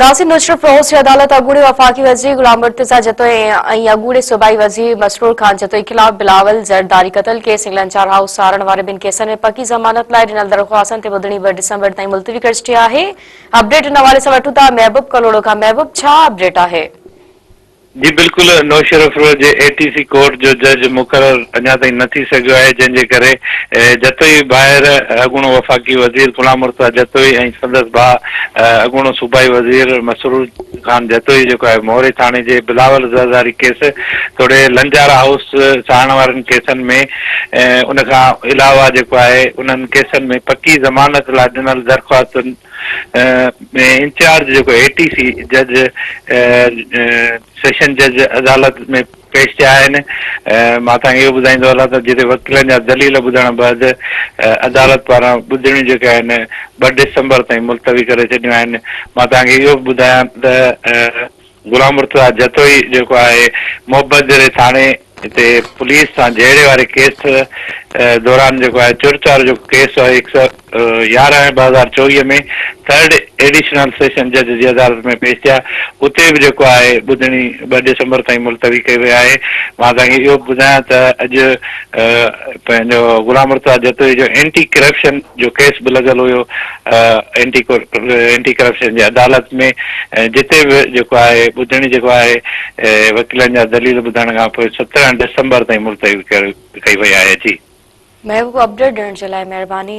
ناصر نشرف روس جي عدالت اڳوڻي وفاقي وزير غلام مرتضيٰ جتوئي ۽ اڳوڻي صوبائي وزير مسرور خان جتوئي خلاف بلاول زرداري قتل ڪيس انگلنڊ چار هائوس سارڻ واري ٻن ڪيسن ۾ پڪي ضمانت لاء ڏنل درخواستن تي ٻڌڻي ٻه ڊسمبر تائين ملتوي ڪري ڇڏي آهي اپڊيٽ ان حوالي سان وٺون ٿا محبوب ڪلهوڙو کان محبوب ڇا اپڊيٽ آهي جي بلڪل نوشهروف روڊ جي اي ٽي سي ڪورٽ جو جج مقرر اڃا تائين نه ٿي سگهيو آهي جنهن جي ڪري جتوئي ڀائر اڳوڻو وفاقي وزير غلام مرتضيٰ جتوئي ۽ سندس ڀاء اڳوڻو صوبائي وزير مسرور خان جتوئي جيڪو آهي موري ٿاڻي جي بلاول زرداري ڪيس توڙي لنجارا هائوس ساهڻ وارن ڪيسن ۾ ان کان علاوه جيڪو آهي انهن ڪيسن ۾ پڪي ضمانت لاء ڏنل درخواستن انچارج جيڪو اي ٽي سي جج سيشن جج عدالت ۾ پيش ٿيا آهن مان توهان کي اهو ٻڌائيندو هلان ته جتي وڪيلن جا دليل ٻڌڻ بعد عدالت پاران ٻڌڻيون جيڪي آهن ٻه ڊسمبر تائين ملتوي ڪري ڇڏيون آهن مان توهان کي اهو به ٻڌايان ته غلام مرتضيٰ جتوئي جيڪو آهي محبت جهڙي ٿاڻي تي پوليس سان جهيڙي واري ڪيس دوران جيڪو آهي چورچارو جو ڪيس آهي هڪ سؤ يارهن ٻه هزار چوويهه ۾ ٿرڊ ايڊيشنل سيشن جج جي عدالت ۾ پيش ٿيا اتي به جيڪو آهي ٻڌڻي ٻه ڊسمبر تائين ملتوي ڪئي وئي آهي مان توهان کي اهو به ٻڌايان ته اڄ پنهنجو غلام مرتضيٰ جتوئي جو اينٽي ڪرپشن جو ڪيس به لڳل هيو اينٽي ڪرپشن جي عدالت ۾ جتي به جيڪو آهي ٻڌڻي جيڪو آهي وڪيلن جا دليل ٻڌڻ کان پوء سترهن ڊسمبر تائين ملتوي ڪئي وئي آهي جي. محبوب اپڊيٽ ڏيڻ جي لاء مهرباني.